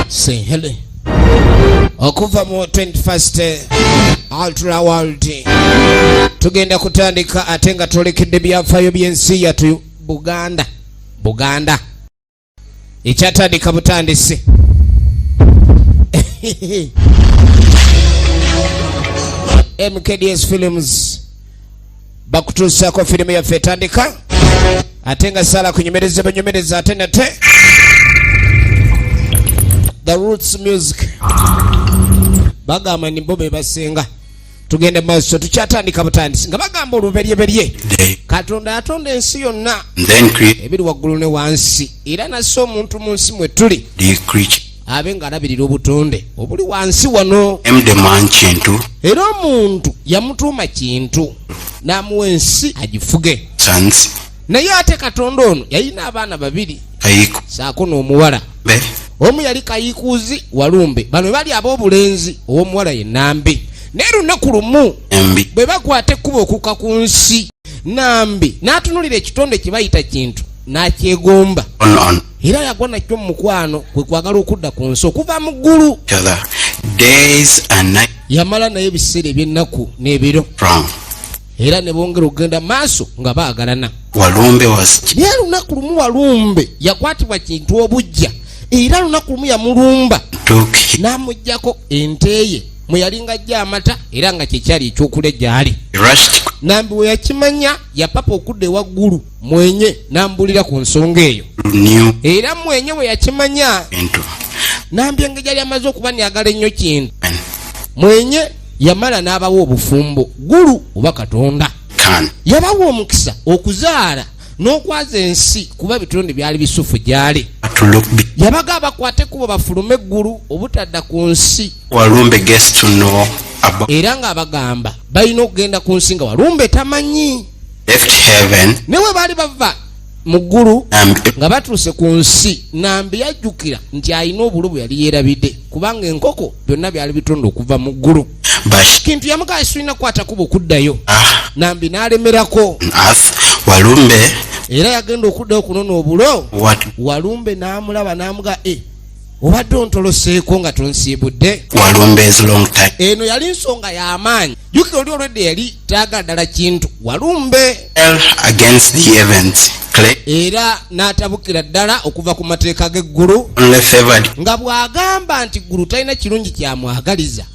Sehele okuva mu 21st Ultra World tugenda kutandika ate nga twolekedde byafaayo by'ensi yatu Buganda Buganda ekyatandika butandisi mkds films bakutuusako firimu yaffe etandika ate nga sala kunyumereza banyumereza ate nate the roots music bagamba nimbo bebasinga tugende maaso tukyatandika butandisi nga bagamba oluberyeberye katonda yatonda ensi yonna ebiri waggulu ne wansi era nassa omuntu mu nsi mwe tuli abe ng'alabirira obutonde obuli wansi wano kintu era omuntu yamutuuma kintu n'amuwa ensi agifuge naye ate katonda ono yalina abaana babiri saako n'omuwala omu yali kayikuuzi walumbe bano bali ab'obulenzi ow'omuwala ye nambi naye lunaku lumu bwe bakwata ekkuba okuka ku nsi nambi n'atunulira ekitonde kye bayita kintu n'akyegomba era yagwa nakyo mu mukwano kwe kwagala okudda ku nsi okuva mu ggulu yamala naye ebiseera eby'ennaku n'ebiro era ne bongera okugenda maaso nga baagalana walumbe was naye lunaku lumu walumbe yakwatibwa kintu obujja era lunaku lumu yamulumba n'amugyako enteeye mwe yalinga ajja amata era nga kyekyali ekyokule gyali nambi we yakimanya yapapa okudda ewaggulu mwenye n'ambulira ku nsonga eyo era mwenye we yakimanya nambi engeri yali amaze okuba neyagala ennyo kintu mwenye yamala n'abawa obufumbo gulu oba katonda yabawa omukisa okuzaala n'okwaza ensi kuba ebitonde byali bisufu gyali yabaga abakwate kubo bafulume eggulu obutadda ku nsi era ng'abagamba balina okugenda ku nsi nga walumbe tamanyi ne we baali bava mu ggulu nga batuuse ku nsi nambi yajjukira nti alina obulu bwe yali yeerabidde kubanga enkoko byonna byali bitonda okuva mu ggulu kintu yamugaa sirina kukwata kuba okuddayo ah. nambi n'alemerako walumbe era yagenda okuddayo okunona obulo walumbe n'amulaba n'amugaa e eh, obadde ontoloseeko nga tonsiibudde eno yali nsonga y'amaanyi jukira oli olwedde yali taagala ddala kintu walumbe era n'atabukira ddala okuva ku mateeka g'eggulu nga bw'agamba nti ggulu talina kirungi kyamwagaliza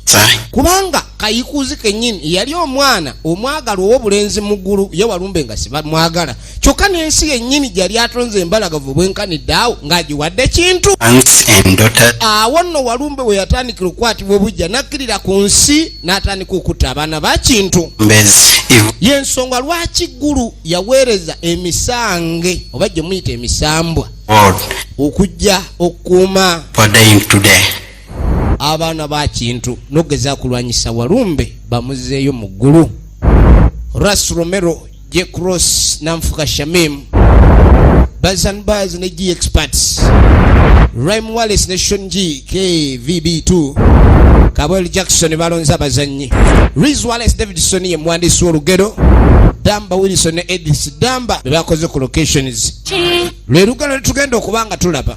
kubanga kayikuuzi kennyini yali omwana omwagalwa ow'obulenzi mu ggulu ye walumbe nga sibamwagala kyokka n'ensi yennyini gyali atonze embalagavu bwenkanidde awo ng'agiwadde kintu awo nno walumbe we yatandikira okukwatibwa obujja n'akkirira ku nsi n'atandika okutta abaana ba kintu y'ensonga lwaki ggulu yaweereza emisange oba gye muyita emisambwa okujja okukuuma abaana ba kintu n'okugeza kulwanyisa walumbe bamuzeeyo mu ggulu ras romero J Cross Namfuka Shamim Buzz and Buzz ne G Experts Rhyme Wallace ne Sean G KVB2 Kabwel Jackson balonze abazannyi Riz Wallace Davidson ye muwandiisi w'olugero Damba Wilson ne Edith Damba be bakoze ku locations lwe lugalo lwe tugenda okuba nga tulaba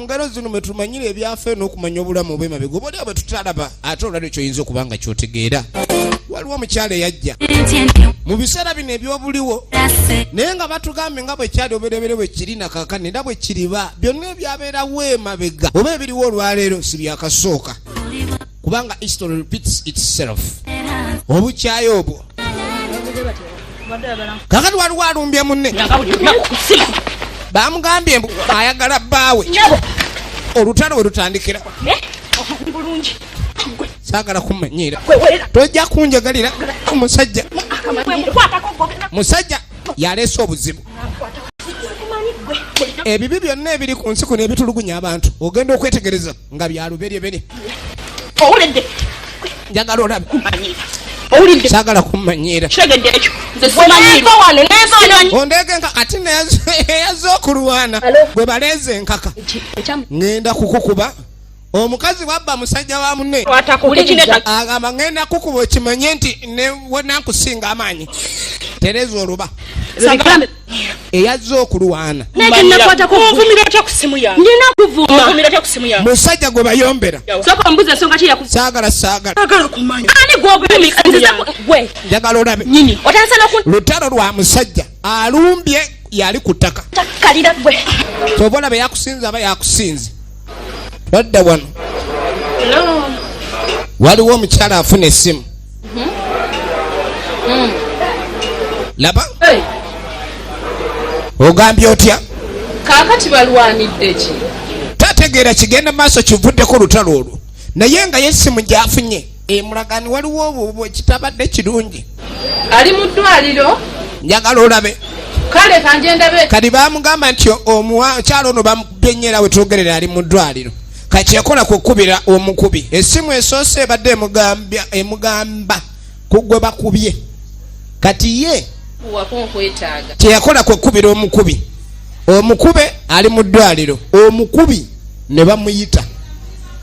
ngalo zino mwe tumanyira ebyafayo n'okumanya obulamu obwemabega oba oliawo bwe tutalaba ate olwali kyoyinza okuba nga kyotegeera waliwo omukyala eyajja mu biseera bino ebyobuliwo naye nga batugambye nga bwekyali oberebere bwe kiri nakakani era bwe kiriba byonna ebyabeerawo emabega oba ebiriwo olwaleero si byakasooka kubanga history repeats itself obukyayi obwo kakati waliwo alumbye munne bamugambye mbu ayagala bbaawe olutalo we lutandikira eh? sagala kumanyiira tojja kunjagalira omusajja musajja yaleese obuzibu ebibi byonna ebiri ku nsi kuno ebitulugunya abantu ogenda okwetegereza nga byaluberyebere owulidde njagala olabe owulidde sagala kumanyiira kitegedde ekyo ondeege nka ati neyaze okulwana gwe baleeze enkaka ŋenda kukukuba omukazi wabba musajja wa munne agamba ŋenda kukuba okimanye nti newenakusinga amaanyi tereza oluba eyazze okulwana musajja gwe bayombera saagala saagalanjagala olabe lutalo lwa musajja alumbye yali ku ttaka kyova olaba yakusinza aba yakusinze badda wano waliwo omukyala afuna essimu mm-hmm. mm. laba ogambye otya kakati balwanidde ki tategeera kigenda maaso kivuddeko olutalo olwo naye nga yesimu gyafunye emulagani eh, waliwo obubu ekitabadde kirungi ali mu ddwaliro njagala olabe kale kanjendabe kati bamugamba nti omukyalo ono bamukubye nnyo era wetwogerera ali mu ddwaliro kakyekola kukubira omukubi esimu esoose ebadde emugamba kugwe bakubye kati ye kyeyakola kwekubira omukubi omukube ali mu ddwaliro omukubi ne bamuyita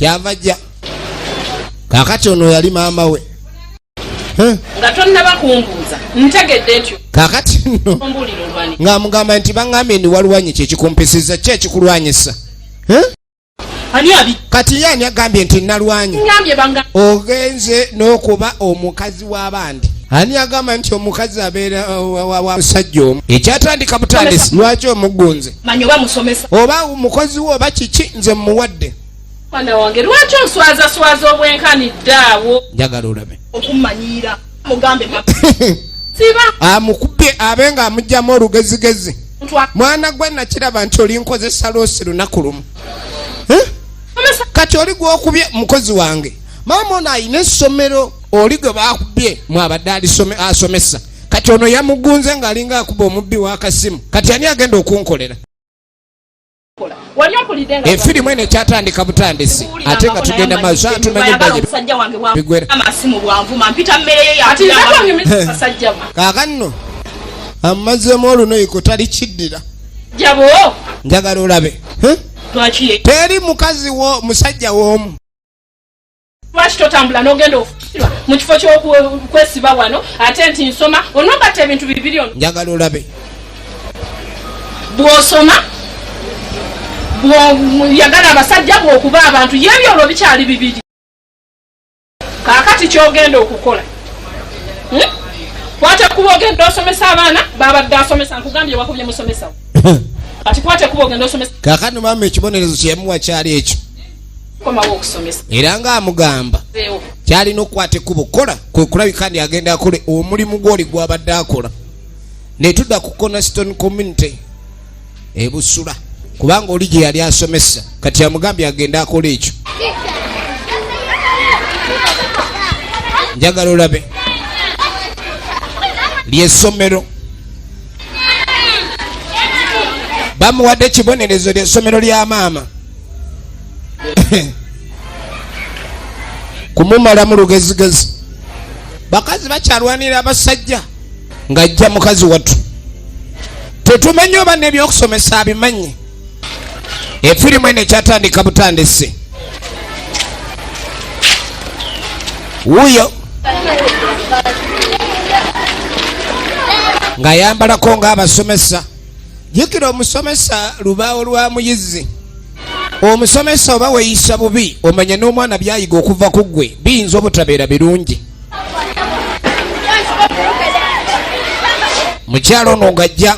kyava jja kakati ono yali maama we nga tonnaba kumbuuza ntegedde ntyo kakati no ng'amugamba nti baŋŋambye ndi walwanyi kyekikumpisiza ki ekikulwanyisa kati ye ani agambye nti nalwanye ogenze n'okuba omukazi w'abandi ani agamba nti omukazi abeera wamusajja omu ekyatandika butandisi lwaki omugunze oba mukozi we oba kiki nze mmuwadde mwana wange lwaki oswazaswaza obwenkanidde awo njagala olabe okummanyiira mugambe siba amukubye ah, abe nga amugyamu olugezigezi mwana gwe nakiraba nti olinkozesa lwosi lunaku lumu eh? kati oli gwokubye mukozi wange maama ono alina essomero oli gwe bakubye mwabadde asomesa kati ono yamugunze ng'alinga akuba omubbi w'akasimu kati ani agenda okunkolera efirimu eno ekyatandika butandisi ate nga tugenda maaso tumanyiaaakanno amazzemu olunoyiko tali kiddira njagala olabe teri mukazi wo musajja woomu lwaki totambula nogenda okukirwa mu kifo kyokwesiba wano ate nti nsoma onogatta ebintu bibiri ono njagala olabe bwosoma yagala abasajja bwokuba abantu yebyo olwo bikyali bibiri kakati kyogenda okukola hmm? kwata kuba ogenda osomesa abaana babadde asomesa nkugambye wakubye musomesawo kati kwata kuba ogenda osomesa kakati mama ekibonerezo kyeyamuwa kyali ekyo era ng'amugamba kyalina okukwata ekkubo kukola kwe kulabika ndi agenda akole omulimu gwoli gwabadde akola ne tudda ku conaston community ebusula kubanga oli gye yali asomesa kati amugambye agenda akola ekyo njagala olabe lyesomero bamuwadde ekibonerezo lyesomero lya maama kumumalamu lugezigezi bakazi bakyalwanira abasajja ng'ajja mukazi wattu tetumanyi oba nebyokusomesa abimanyi efirimu eno ekyatandika butandisi wuyo ng'ayambalako ng'abasomesa jukira omusomesa lubaawo lwa muyizi omusomesa oba weyisa bubi omanya n'omwana byayiga okuva ku ggwe biyinza obutabeera birungi mukyalo ono ngajja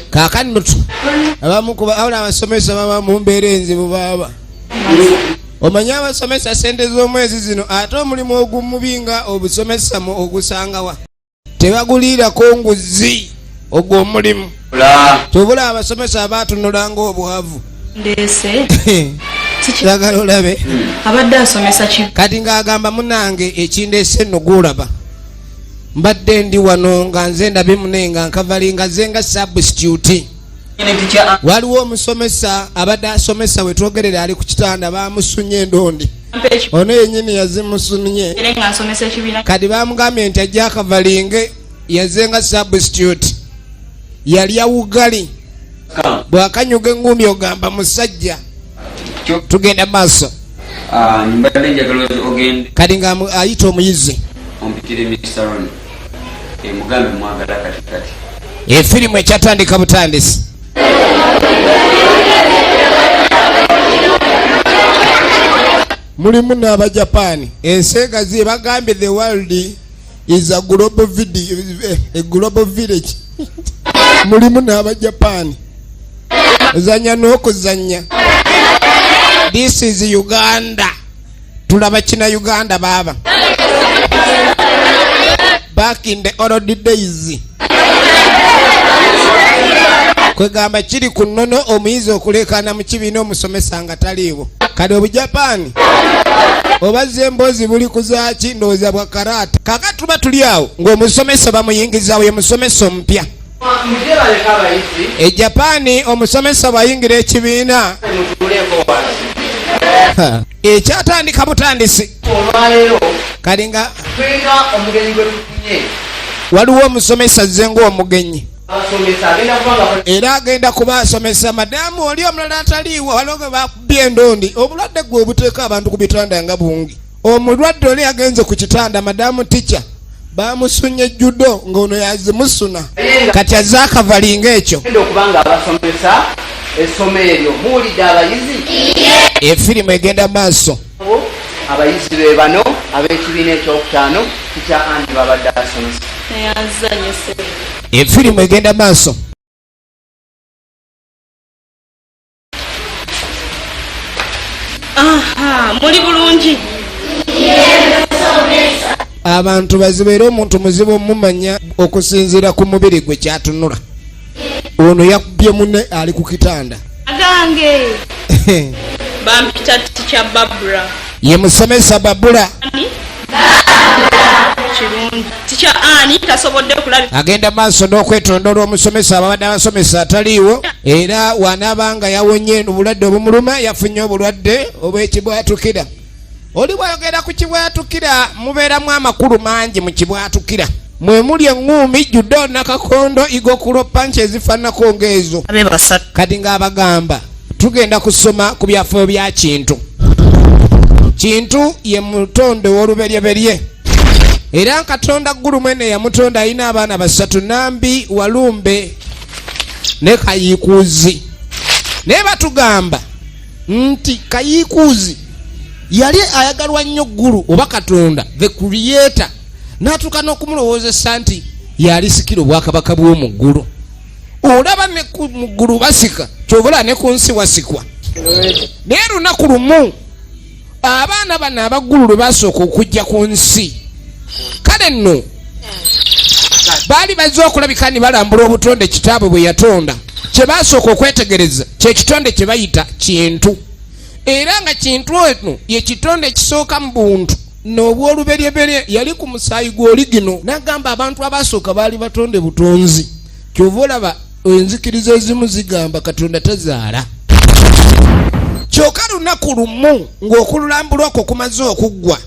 kakani nutu abamukubaawula abasomesa baba mumbeera enzibu baaba omanye abasomesa sente z'omwezi zino ate omulimu ogumubi nga obusomesa mu ogusangawa tebaguliirako nguzi ogwo omulimu kyobula abasomesa abaatunula nga obwavu yagala olabe kati ng'agamba munange ekindeese nno gwolaba mbadde ndi wano nga nze ndabe mune nga nkavali nga ze nga substitute waliwo omusomesa abadde asomesa wetwogerere ali ku kitanda bamusunye endondi ono yenyini yazimusunye kati bamugambye nti ajja akavalinge yaze nga substitute yalya wugali bwakanyuga engumi ogamba musajja tugenda maaso ah, kati nga ayita omuyizi efirimu ekyatandika butandisi mulimu n'abajapaani ensi egazi ebagambye the world is a global video eh, a global village mulimu n'aba japan ozanya n'okuzanya this is uganda tulaba kina uganda baaba back in the old days kwegamba kiri ku nnono omuyizi okulekaana mu kibiina omusomesa nga taliiwo kale obujapani obazza emboozi buli kuzaaki ndowooza bwa karaata kaka tuba tuli awo ng'omusomesa bamuyingizawo ye musomesa omupya ejapani omusomesa bwayingira ekibiina ekyatandika butandisi olwaleero kali nga tulina omugenyi gwe tufunye waliwo omusomesa azze ng'omugenyi era agenda kuba asomesa madamu oli omulala ataliiwo waliwo gwe bakubye endondi obulwadde gwe obuteeka abantu ku bitanda nga bungi omulwadde oli agenze ku kitanda madamu tica bamusunye judo ngaono yazimusuna kati aze akavalinga ekyo efirimu egenda maaso abayizi be bano ab'ekibiina ekyokutaano kitya anti babadde asomesa efirimu egenda maaso muli bulungi abantu bazibeera omuntu muzibu omumanya okusinziira ku mubiri gwe kyatunula ono yakubye mune ali ku kitanda agange bampita tikya babula ye musomesa babula agenda maaso n'okwetonda olw'omusomesa ababadde abasomesa ataliiwo era wanaaba nga yawonye obulwadde obumuluma yafunye obulwadde obwekibwatukira oli bwayogera ku kibwatukira mubeeramu amakulu mangi mu kibwatukira mwe muli eŋŋuumi judo nakakondo igokulo panki ezifaananako ng'ezo kati ng'abagamba tugenda kusoma ku byafaayo bya kintu kintu ye mutonde w'oluberyeberye era katonda ggulu mwene yamutonda alina abaana basatu nambi walumbe ne kayiikuuzi naye batugamba nti kayiikuuzi yali ayagalwa nnyo ggulu oba katonda the creator n'atuuka n'okumulowoozesa nti yalisikira obwakabaka bw'omu ggulu olaba ne mu ggulu basika kyobulaba ne ku nsi wasikwa naye lunaku lumu abaana bano abaggulu lwe basooka okujja ku nsi kale nno baali bazze okulabika ni balambula obutonde kitaabwe bwe yatonda kye basooka okwetegereza kyekitonde kye bayita kintu era nga kintu eno ye kitonde ekisooka mu buntu n'obw'oluberyeberye yali ku musaayi gw'oligino n'agamba abantu abaasooka baali batonde butonzi kyova olaba enzikiriza ezimu zigamba katonda tazaala kyoka lunaku lumu ng'okululambula okwo kumaze okuggwa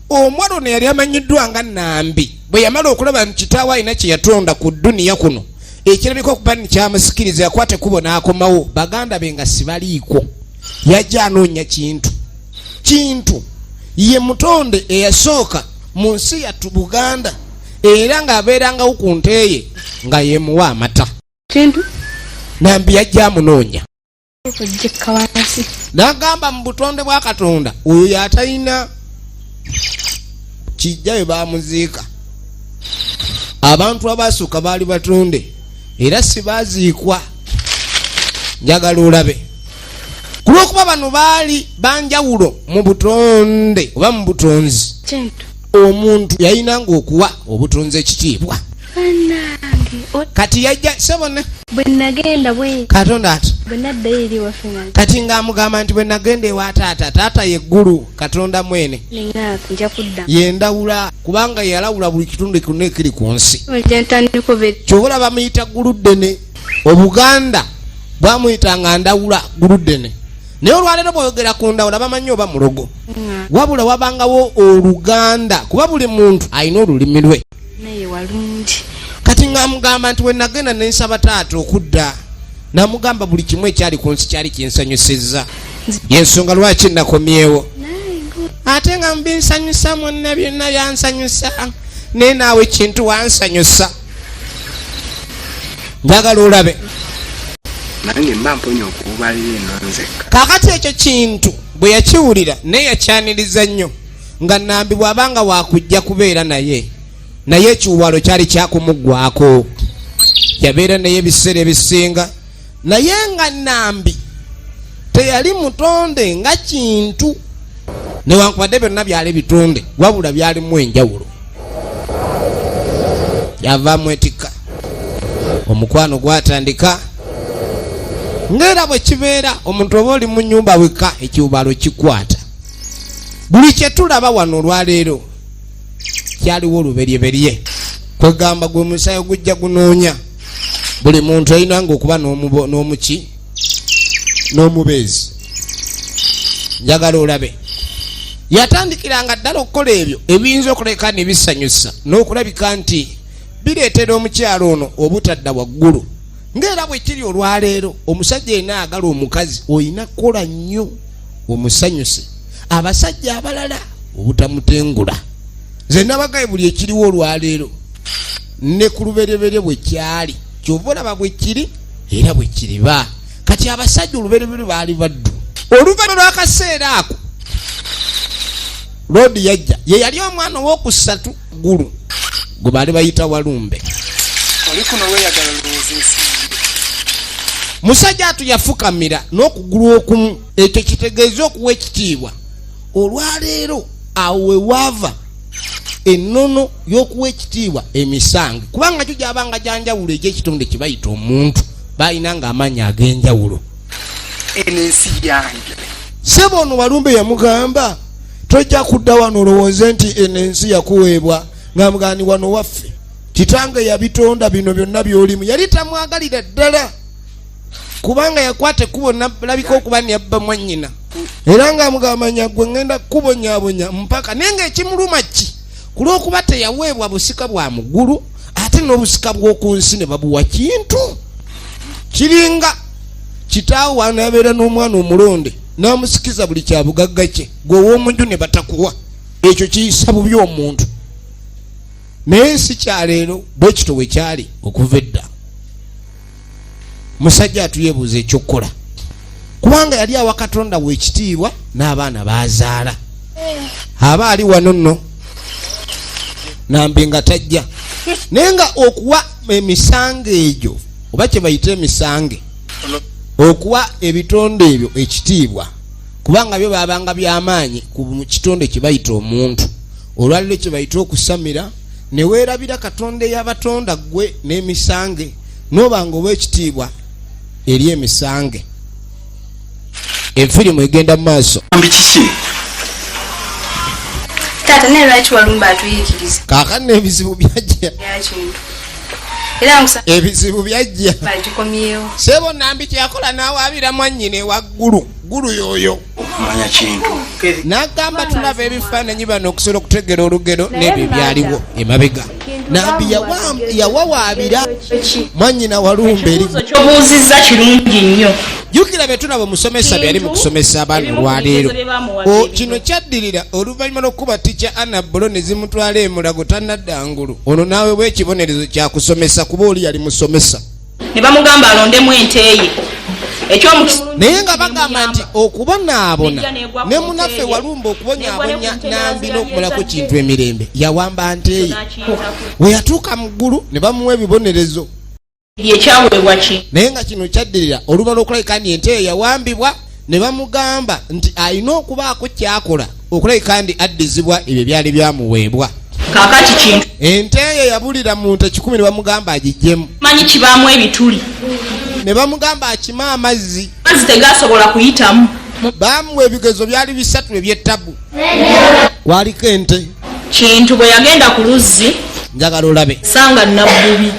omwana ono yali amanyiddwa nga nambi bwe yamala okulaba nti kitaawe alina kye yatonda ku duniya kuno ekirabika okuba ni kyamusikiriza yakwata kubo n'akomawo baganda be nga sibaliiko yajja anoonya kintu kintu ye mutonde eyasooka mu nsi yattu buganda era ng'abeerangawo ku nteeye nga yemuwa amata kintu nambi yajja amunoonya nagamba mu butonde bwa katonda oyo yatalina kijja we bamuziika abantu abaasooka baali batonde era sibaziikwa njagala olabe ku lw'okuba bano baali banjawulo mu butonde oba mu butonzi omuntu yalinanga okuwa obutonzi ekitiibwa kati yajja sebona katonda ati kati ng'amugamba nti bwe nagenda ewa taata taata yeggulu katonda mwene yendawula kubanga yalawula buli kitundu kyonna ekiri ku nsi kyobola bamuyita ggulu ddene obuganda bwamuyitanga ndawula guludene naye olwaleero bwoyogera ku ndawula bamanyi oba mulogo mm. wabula wabangawo oluganda kuba buli muntu alina olulimi lwe kati ngamugamba nti wenagenda nensaba taata okudda namugamba buli kimu ekyali ku nsi kyali kinsanyusizza yensonga lwaki nakomyewo ate nga mbinsanyusa mwonna byonna byansanyusa naye naawe kintu wansanyusa njagala olabe nange mba mponya okububalira eno nzekka kakati ekyo kintu bwe yakiwulira naye yakyaniriza nnyo nga nambi bw'aba nga wakujja kubeera naye naye ekiwalo kyali kyakumuggwako yabeera naye ebiseera ebisinga naye nga nambi teyali mutonde nga kintu newankubadde byonna byali bitonde wabula byalimu enjawulo yava mwetikka omukwano gwatandika ngaera bwe kibeera omuntu oba oli mu nyumba wekka ekiwubalo kikwata buli kyetulaba wano olwaleero kyaliwo oluberyeberye kwegamba gwe musayo gujja gunoonya buli muntu alina nga okuba n'omuki n'omubeezi njagala olabe yatandikiranga ddala okukola ebyo ebiyinza okuleka ne bisanyusa n'okulabika nti bireetera omukyalo ono obutadda waggulu ng'era bwe kiri olwaleero omusajja yena agala omukazi olina kukola nnyo omusanyuse abasajja abalala obutamutengula nze nabagaye buli ekiriwo olwaleero ne ku lubereberye bwe kyali kyova olaba bwe kiri era bwe kiriba kati abasajja olubereberye baali baddu oluvanyuma lwakaseera ako loodi yajja ye yali omwana owokusatu gulu gwe baali bayita walumbe oli kuno weyagala olowooza ensi musajja atu yafukamira n'okugulu okumu ekyo kitegeeza okuwa ekitiibwa olwaleero awo wewaava ennono y'okuwa ekitiibwa emisango kubanga kyo gyabanga gyanjawulo egyekitonde kyebayita omuntu balina nga amaanyi ag'enjawulo eno ensi yange sebo ono walumbe yamugamba tojja kudda wano olowooze nti eno ensi yakuweebwa nga mugani wano waffe kitange yabitonda bino byonna byolimu yali tamwagalira ddala kubanga yakwata ekkubo nalabika okuba neyabba mwanyina era nga mugamanya gwe ngenda kukubonyabonya mpaka naye nga ekimuluma ki ku lwokuba teyaweebwa busika bwa mugulu ate n'obusika bw'oku nsi ne babuwa kintu kiringa kitaawo wanabeera n'omwana omulonde n'amusikiza buli kya bugagga kye gwe ow'omunju ne batakuwa ekyo kiyisa bubi omuntu naye si kyaleero bwe kito we kyali okuva edda musajja atuyebuuza ekyokukola kubanga yali awa katonda wekitiibwa n'abaana bazaala aba ali wano nno nambi nga tajja naye nga okuwa emisango egyo oba kyebayita emisange okuwa ebitonde ebyo ekitiibwa kubanga byo babanga byamaanyi ku kitonde kyebayita omuntu olwaliro kyebayita okusamira neweerabira katonda eyabatonda ggwe n'emisange nobanga owekitiibwa eri emisange efirimu egenda mu maaso kakati nebizibu byajja ebizibu byajja sebo nambi kyakola nawaabira mwanyina ewaggulu ggulu yoyo okumanya kintu nagamba tulaba ebifaananyi bano okusobola okutegera olugero n'ebyo byaliwo emabega nambi yawawaabira mwanyina walumbe erikyobuuzizza kirungi nnyo jukira betulaba omusomesa byali mu kusomesa abaana olwaleero kino kyaddirira oluvannyuma lw'okukuba tikya anna bulo ne zimutwala emulago tanadda ngulu ono naawe bwekibonerezo kyakusomesa kuba oli yali musomesa ne bamugamba alondemu ente ye naye nga bagamba nti okubonaabona ne munaffe walumba okubonyabonya nambi n'okumalako kintu emirembe yawamba nteeye we yatuuka mu ggulu ne bamuwa ebibonerezo naye nga kino kyaddirira oluba lw'okulabika nti enteeyo yawambibwa ne bamugamba nti alina okubaako kyakola okulabika ndi addizibwa ebyo byali byamuweebwa kakati kintu ente eyo yabulira mu nte kikumi ne bamugamba agijjemu manyi kibaamu ebituli ne bamugamba akime amazzi mazzi tegasobola kuyitamu baamuwa ebigezo byali bisatu ebyettabu kwaliko ente kintu bwe yagenda ku luzzi njagala olabe sanga nabbubi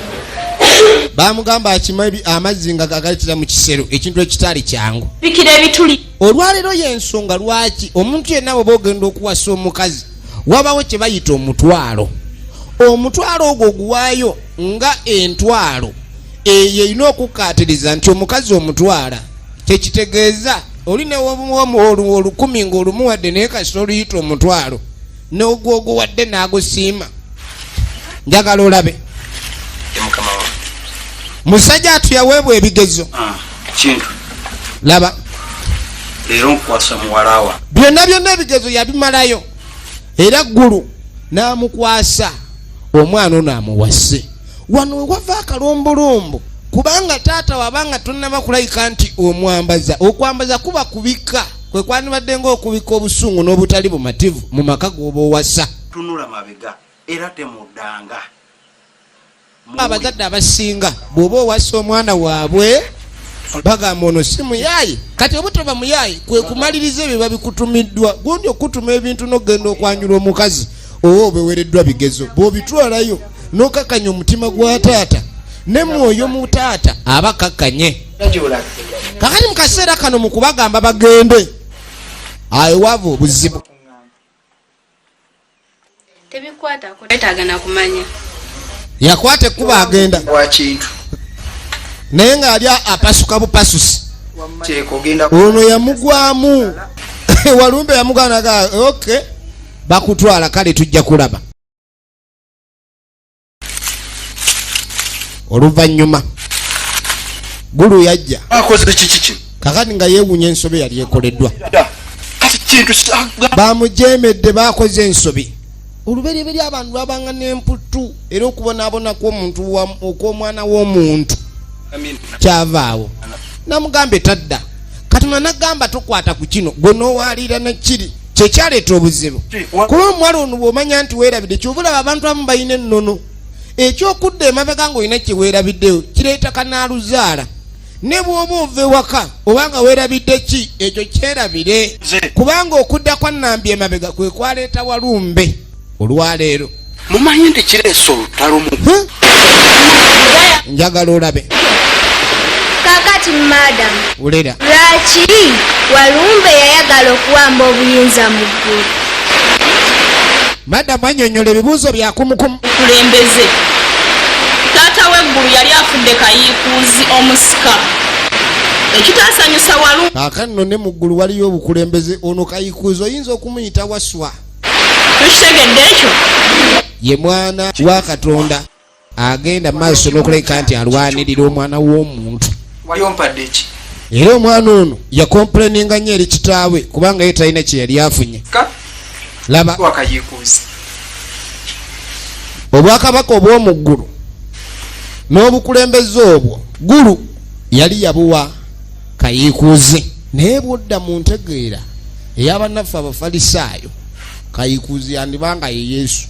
bamugamba akima amazzi nga gagayitira mu kisero ekintu ekitaali kyangu bikira ebituli olwaleero y'ensonga lwaki omuntu yenna bwe baogenda okuwasa omukazi wabawo kye bayita omutwalo omutwalo ogwo oguwaayo nga entwalo eyo erina okukkaatiriza nti omukazi omutwala kyekitegeeza oli newomuwomuwoluwa olukumi ngaolumuwadde naye kasita oluyita omutwalo nogwoguwadde nagusiima njagala olabe musajja atu yaweebwa ebigezo ah, laba byonna byonna ebigezo yabimalayo era ggulu n'amukwasa omwana ono amuwase wano wewava akalombolombo kubanga taata wabanga tonaba kulayika nti omwambaza okwambaza kuba kubika kwe kwandibadde ngaokubika obusungu n'obutali bumativu mu maka goba owasa tunula mabega era temudanga abazadde abasinga bwoba owasa omwana waabwe bagamba ono si muyaayi kati obutaba muyaayi kwe kumaliriza ebyo babikutumiddwa gundi okukutuma ebintu nokugenda okwanjula omukazi oba obewereddwa bigezo bwobitwalayo nokakanya omutima gwa taata ne mwoyo mu taata aba kakanye kakati mu kaseera kano mu kubagamba bagende aewava obuzibu yakwata ekkuba agenda naye ng'ali apasuka bupasusi ono yamugwamu walumbe yamugwanaga okay bakutwala kale tujja kulaba oluvannyuma gulu yajja akoze kiki kino kakati nga yeewunya ensobi yali ekoleddwa kati kintu bamujeemedde baakoze ensobi olubereberye abantu babanga n'emputtu era okubonaabona kw'omuntu okw'omwana w'omuntu kyavaawo namugambye tadda katonda nagamba tokwata ku kino gwe nowaalira nekiri kyekyaleeta obuzibu kuba omuwala ono bwomanya nti weerabidde kyova olaba abantu abamu balina ennono ekyokudda emabega ngaolina kyeweerabiddeyo kireeta kanaaluzaala ne bwoba ova ewaka obanga weerabidde ki ekyo kyerabire kubanga okudda kwa nambi emabega kwe kwaleeta walumbe olwaleero mumanyi nti kireesa olutalo mu njagala olabe kakati madam ulera lwaki walumbe yayagala okuwamba obuyinza mu ggulu madamu anyonyola ebibuuzo byakumukumu kulembeze taata w'eggulu yali afudde kayiikuuzi omusika ekitaasanyusa walu aka nno ne mu ggulu waliyo obukulembeze ono kayiikuuzi oyinza okumuyita waswa tukitegedde ekyo ye mwana wa katonda agenda maaso n'okuleka nti alwanirira omwana w'omuntu wali ompadde eki era omwana ono yakompuleninga nnyo eri kitaawe kubanga ye talina kye yali afunye laba obwakabaka obw'omu ggulu n'obukulembeze obwo ggulu yali yabuwa kayikuuzi naye bwodda mu ntegeera eyabannaffe abafalisaayo kayikuuzi yandibanga ye yesu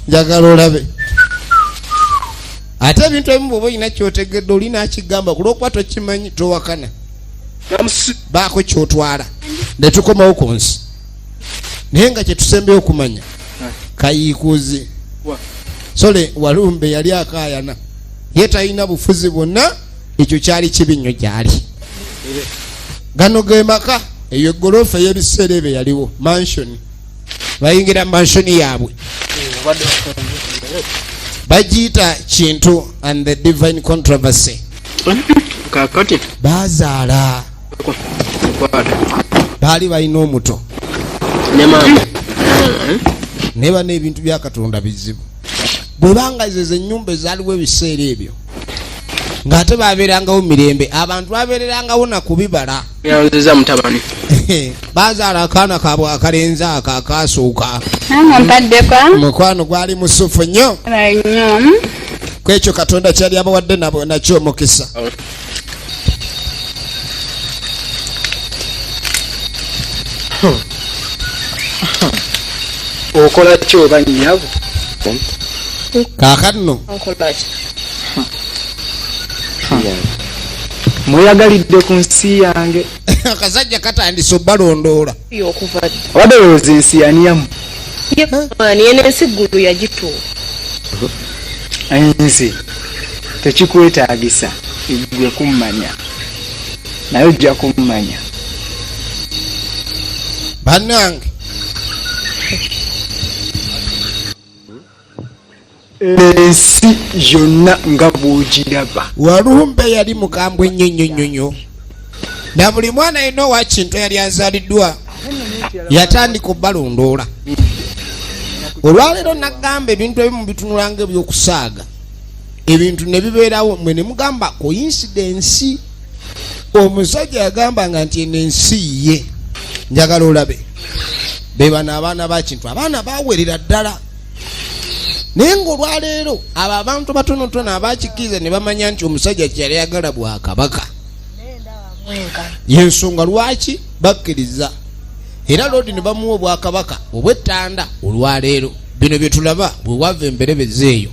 njagala olabe ate ebintu ebimu bwoba olina kyotegedde olina akigamba kulwokuba tokimanyi towakana baako kyotwala netukomawo ku nsi naye nga kyetusembe okumanya kayiikuzi sole walumbe yali akaayana ye talina bufuzi bwonna ekyo kyali kibi nnyo gyali gano ge maka eyo egoloofa ey'ebiseera ebyo yaliwo mansioni bayingira mansioni yaabwe bagiyita kintu and the divine controversy kakati bazaala baali balina omuto naye bana ebintu bya katonda bizibu bwebanga ze zenyumba ezaaliwo ebiseera ebyo ng'ate babeerangawo mirembe abantu babeererangawo na kubibala yanziza mutabani bazaala akaana kabwe akalenzi ako akaasuuka mukwano gwali musufu nnyo kwekyo katonda kyali abawadde nakyo omukisa oh. okola ki oba nyabo kakanno mweyagalidde ku nsi yange akasajja katandise obalondoola obadde olowooza ensi yaniyamu yeno ensi ggulu yagituula ensi tekikwetaagisa gwe kummanya naye ojja kummanya bannange ensi yonna nga bwogiraba walumbe yali mukambwe nnyo nnyo nnyo nnyo na buli mwana yenna owakintu eyali azaaliddwa yatandika obalondoola olwaleero nagamba ebintu ebimu bitunulanga ebyokusaaga ebintu ne bibeerawo mwe ne mugamba koyinsidensi omusajja yagambanga nti eno ensi ye njagala olabe bebano abaana bakintu abaana bawerera ddala naye ngaolwaleero abo abantu batonotono abakikkiriza ne bamanya nti omusajja kyeyali yagala bwakabaka yensonga lwaki bakkiriza era lodi ne bamuwa obwakabaka obwettanda olwaleero bino bye tulaba bwe wava emberebeza eyo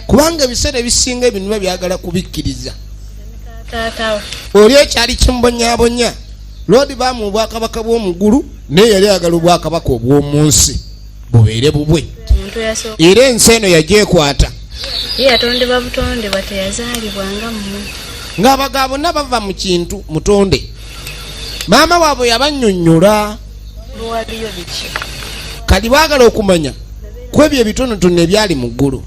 kubanga ebiseera ebisinga ebinuba byagala kubikkiriza oli ekyali kimubonyabonya lodi baamu obwakabaka bw'omugulu naye yali agala obwakabaka obw'omu nsi bubeere bubwe era ensi eno yagyekwata ng'abaga bonna bava mu kintu mutonde maama waabwe yabanyonyola kali baagala okumanya ku ebyo ebitonotono ebyali mu ggulu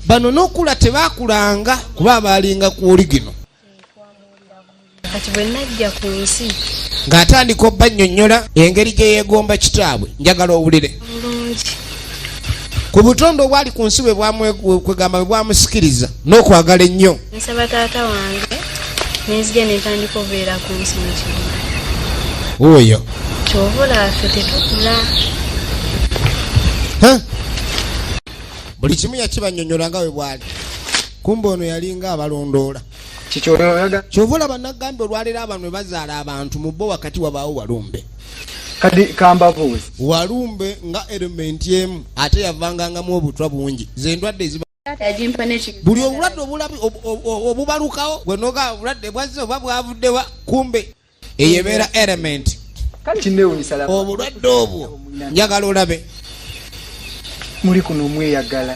bano n'okula tebaakulanga kuba abaalinga ku oligino kati bwe najja ku nsi ng'atandika obbannyonnyola engeri gye yeegomba kitaabwe njagala owulire bulungi ku butonde obwali ku nsi bwekwegamba bwe bwamusikiriza n'okwagala ennyo nsaba taata wange nenzija nentandika obeera ku nsi mukino oyo kyova olaafe tetukula buli kimu yakibanyonyola nga we bwali kumbe ono yalinga abalondoola kyova olaba nagambye olwaleero abantu bwe bazaala abantu mu bo wakati wabaawo walumbe kadi kambabuuzi walumbe nga elementi emu ate yavangangamu obutwa bungi zendwadde eziba buli obulwadde obubalukawo bwenoga obulwadde bwazze oba bwavuddewa kumbe eyo ebeera element obulwadde obwo njagala olabe muli kuno mweyagala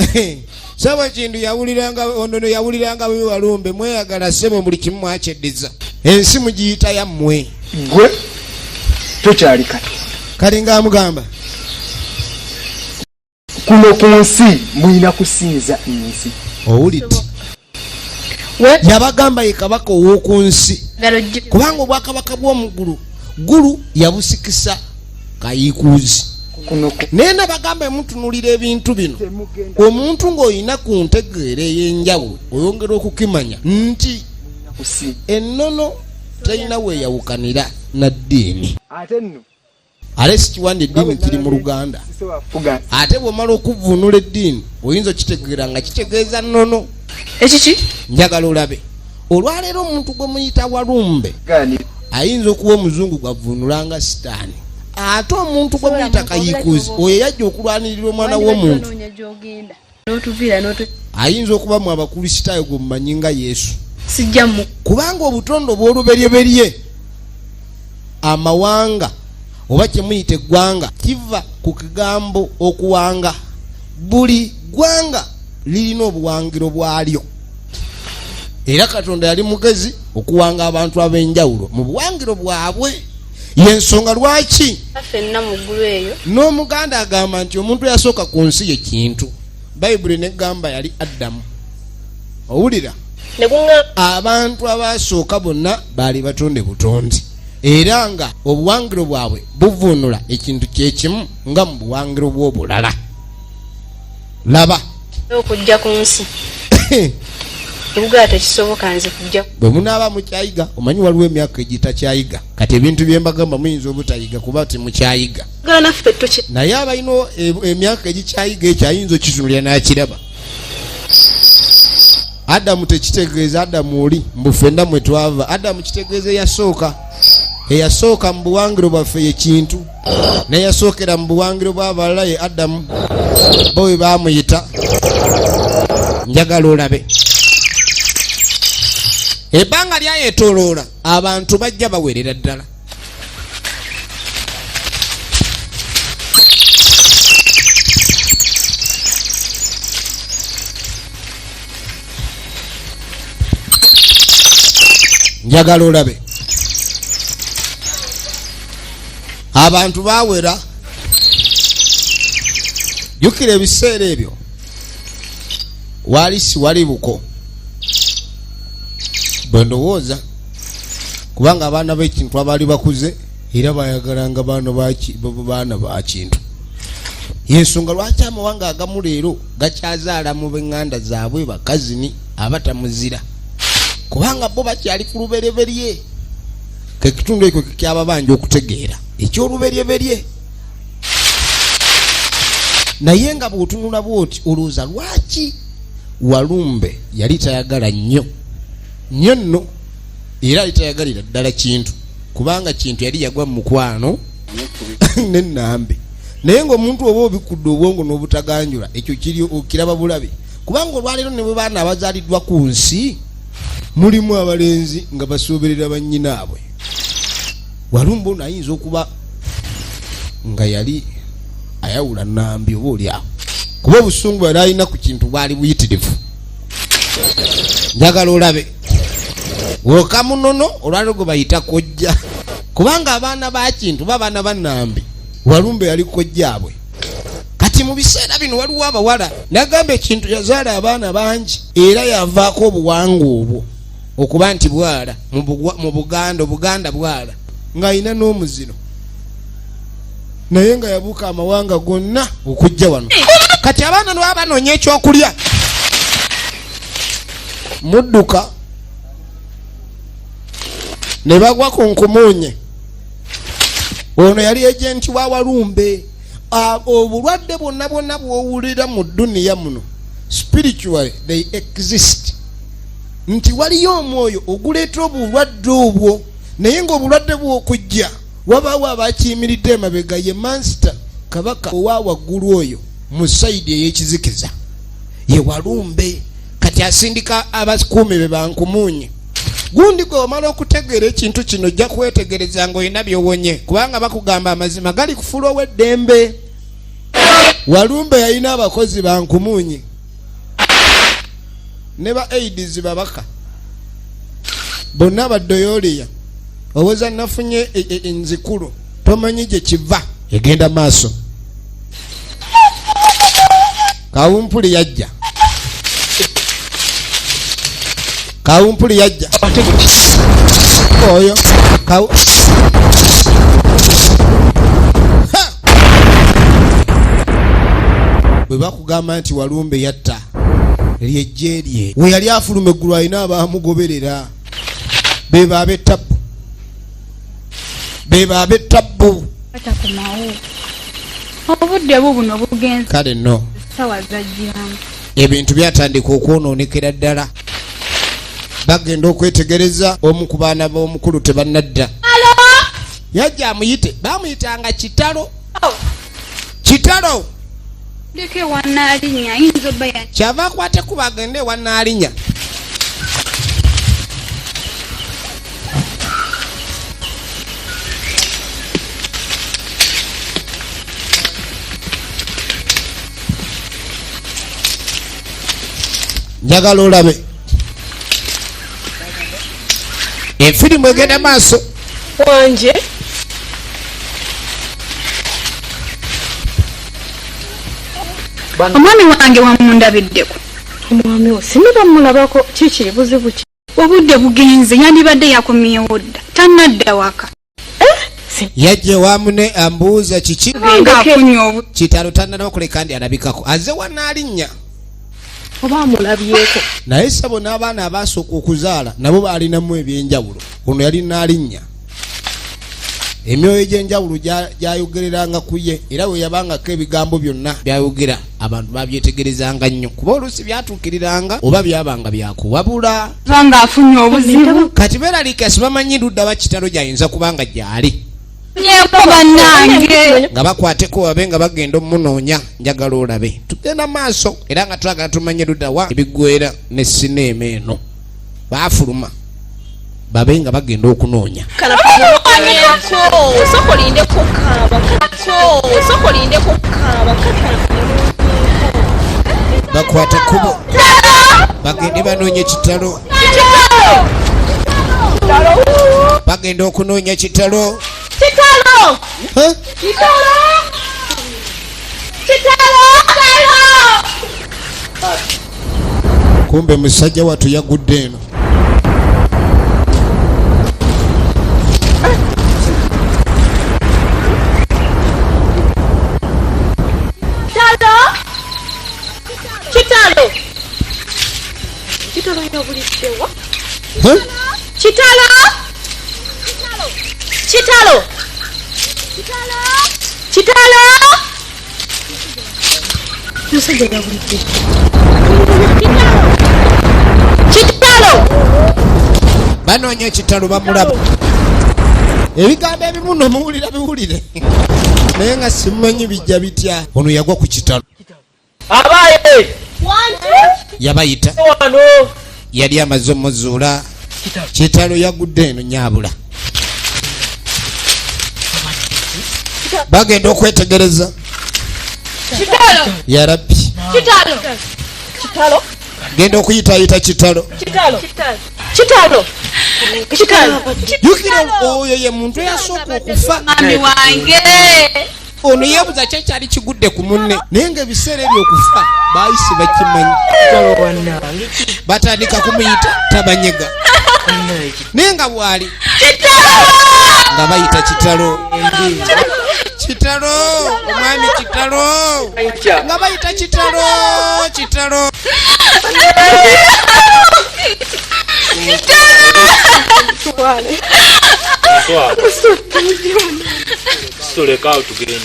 saba kintu yawuliranga onono yawuliranga bwe walumbe mweyagala sebo buli kimu mwakyeddiza ensi mugiyita yammwe gwe tokyali kati kati ngaamugamba kuno ku nsi mulina kusinza ensi owulit yabagamba ye kabaka ow'oku nsi kubanga obwakabaka bw'omugulu gulu yabusikisa kayikuuzi naye nabagamba emutunulira ebintu bino omuntu ng'olina ku ntegeera ey'enjawulo oyongera okukimanya nti ennono terina weeyawukanira na ddiini alesikiwa nti eddiini kiri mu luganda ate bwomala okuvunula eddiini oyinza okitegeera nga kitegeeza nono ekiki njagala olabe olwaleero omuntu gwe muyita walumbe ayinza okuba omuzungu gwavunulanga sitaani ate omuntu gwe muyita kayikuzi oyo yajja okulwanirira omwana w'omuntu ayinza okuba mu abakristaayo gwe mumanyi nga yesu kubanga obutondo obw'oluberyeberye amawanga oba kyemuyita eggwanga kiva ku kigambo okuwanga buli ggwanga lirina obuwangiro bwalyo era katonda yali mugezi okuwanga abantu ab'enjawulo mu buwangiro bwabwe yensonga lwaki fenna muggulu eyo n'omuganda agamba nti omuntu eyasooka ku nsi ye kintu bayibuli negamba yali addamu owulira abantu abaasooka bonna baali batonde butondi era nga obuwangiro bwabwe buvuunula ekintu kyekimu nga mu buwangiro bw'obulala laba okujja ku nsi ebugaa tekisoboka nze kujja bwe munaaba mukyayiga omanyi waliwo emyaka egitakyayiga kati ebintu byembagamba muyinza obutayiga kuba timukyayiga naye abalina e, emyaka egikyayiga ekyo ayinza okitunulira nakiraba adamu tekitegeeza adamu oli mbu fenna mwe twava adamu kitegeeza eyasooka eyasooka mu buwangiro bwaffe yekintu neyasookera mu buwangiro bw'abalala ye adamu bo bwe baamuyita njagala olabe ebbanga lyayetoloola abantu bajja bawerera ddala njagala olabe abantu bawera jukira ebiseera ebyo wali siwali buko bwe ndowooza kubanga abaana b'ekintu abaali bakuze era bayagalanga baana bakintu yensonga lwaki amawanga agamu leero gakyazaala mu benganda zaabwe bakazini abatamuzira kubanga bo bakyali ku lubereberye kekitundu ekyo kekyababanja okutegeera ekyoluberyeberye naye nga bwotunula bwoti olowooza lwaki walumbe yali tayagala nnyo nnyo nno era yali tayagalira ddala kintu kubanga kintu yali yagwa mu mukwano nenambe naye ngaomuntu oba obikkudde obwongo n'obutaganjula ekyo kiri okiraba bulabi kubanga olwaleero ne bwe baana abazaaliddwa ku nsi mulimu abalenzi nga basooberera bannyinaabwe walumba ono ayinza okuba nga yali ayawula nambi oba oli awo kuba obusungu yali alina ku kintu bwali buyitirivu njagala olabe woka munono olwaleero gwe bayita kojja kubanga abaana bakintu ba baana banambi walumba yali kojjaabwe kati mu biseera bino waliwo abawala nagamba ekintu yazaala abaana bangi era yavaako obuwanga obwo okuba nti bwala mu buganda obuganda bwala ng'alina n'omuziro naye nga yabuuka amawanga gonna okujja wano kati abaana lwa banoonya ekyokulya mudduka ne bagwa ku nkumuunye ono yali ejenti wa walumbe obulwadde bwonna bwonna bwowulira mu duniya muno spiritually they exist nti waliyo omwoyo oguleeta obulwadde obwo naye ngaobulwadde bwokujja wabaawo abakiyimiridde emabega ye mansita kabaka owa waggulu oyo mu saidi eyekizikiza ye walumbe kati asindika abakuumi be bankumuunye gundi gwe omala okutegeera ekintu kino ojja kwetegereza nga olina byowonye kubanga bakugamba amazima gali kufula ow'eddembe walumbe yalina abakozi bankumuunye ne ba aids babaka bonna baddoyooliya owoza nafunye e, e, enzikulu tomanyi gye kiva egenda maaso kawumpuli yajja kawumpuli yajja oyo kawu bwe bakugamba nti walumbe yatta lyejje lye we yali afuluma eggulu alina abaamugoberera be baabe tabbu bebo abetabbu obudde bubuno bugenze kale no sawa zajjiramu ebintu byatandika okwonoonekera ddala bagenda okwetegereza omu ku baana b'omukulu tebanadda yajja amuyite bamuyitanga kitalo oh. kitalo kyava akwate kuba agende ewa naalinya njagala olabe efirimu egenda maaso wanje omwami wange wamundabiddeko omwami wo singa bamulabako kiki buzibu ki obudde bugenze yandibadde yakomyewo dda tanadda waka yajja ewa mune ambuuza kiki kitalo tananaba kuleka ndi alabikako aze wanaalinya oba amulabyeko naye sabo n'abaana abaasooka okuzaala nabo baalinamu ebyenjawulo ono yali naalinya emyoyo egy'enjawulo gyayogereranga ku ye era bwe yabangako ebigambo byonna byayogera abantu babyetegerezanga nnyo kuba oluusi byatuukiriranga oba byabanga byakuwabula banga afunye obuzibu kati beralika sibamanyi ludda bakitalo gyayinza kubanga gyali yeko banange nga bakwateko babe nga bagenda omunoonya njagala olabe tugenda maaso era nga twagala tumanye ludawa ebigwera ne sineema eno baafuluma babe nga bagenda okunoonya bakwate kubo bagende banoonye kitalo bagenda okunoonya kitalo kitalo kumbe musajja watu yagudde eno Huh? Chitala! Kitalo! Kitalo! Kitalo! Musajja yabulidde. Kitalo! Banoonya ekitalo bamulaba. Ebigambo ebimu no muwulira biwulire. Naye nga simumanyi bijja bitya. Ono yagwa ku kitalo. abaaye yabayita wano yali amaze omuzuula kitalo yagudde eno nyabula bagenda okwetegereza yarabbi genda okuyitayita kitalo jukira oyo ye muntu eyasooka okufa ono yebuza ki ekyali kigudde ku munne naye nga ebiseera ebyo okufa bayisi bakimanyi batandika kumuyita tabanyega naye nga bwali nga bayita kitalo kitalo omwami kitalo nga bayita kitalo kitalo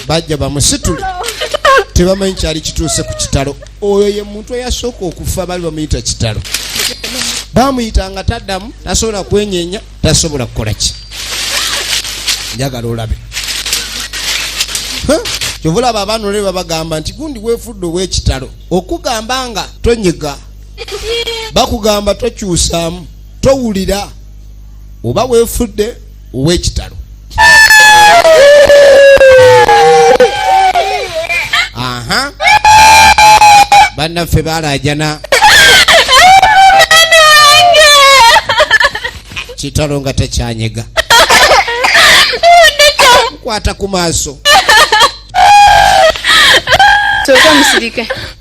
bajja bamusitule tebamanyi kyali kituuse ku kitalo oyo ye muntu eyasooka okufa bali bamuyita kitalo bamuyita nga taddamu tasobola kwenyenya tasobola kukola ki njagala olabe kyovulaba abaana olebe babagamba nti gundi wefudde owekitalo okugamba nga tonyiga bakugamba tokyusamu towulira oba wefudde owekitalo aha bannaffe balajana kitalo nga tekyanyega kwata ku maaso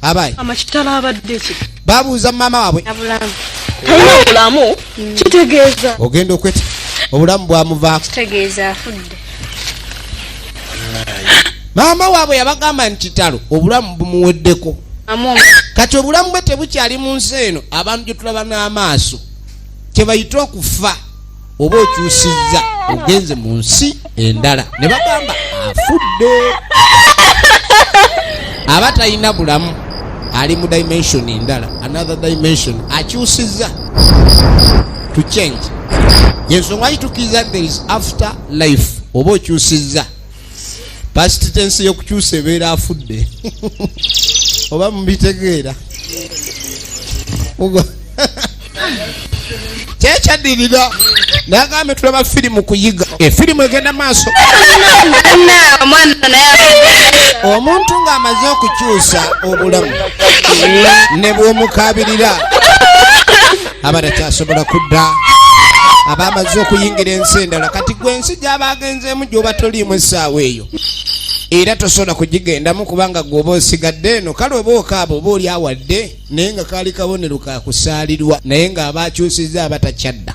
abaye amakitalo abadde kika babuuza mama wabwe talina bulamu mm. kitegeeza ogenda okweta obulamu bwamuvaako kitegeeza afudde maama waabwe yabagamba nti kitalo obulamu bumuweddeko kati obulamu bwe tebukyali mu nsi eno abantu gyetulaba n'amaaso kyebayita okufa oba okyusizza ogenze mu nsi endala ne bagamba afudde aba talina bulamu ali mu dimension endala another dimension akyusizza to change yensonga kitukiriza there is after life oba okyusizza past tense yokukyusa ebeera afudde oba mubitegeera kyekyadirira nagambe tulaba firimu kuyiga efirimu egenda maaso omuntu ng'amaze okukyusa obulamu ne bwomukabirira abatakyasobola kudda abamaze okuyingira ensi endala kati gwe ensi gyaba agenzeemu gyoba toliimu essaawa eyo era tosobola kugigendamu kubanga gweoba osigadde eno kale oba okaaba oba oli awadde naye nga kaali kabonero kakusaalirwa naye ng'aba akyusizza abatakyadda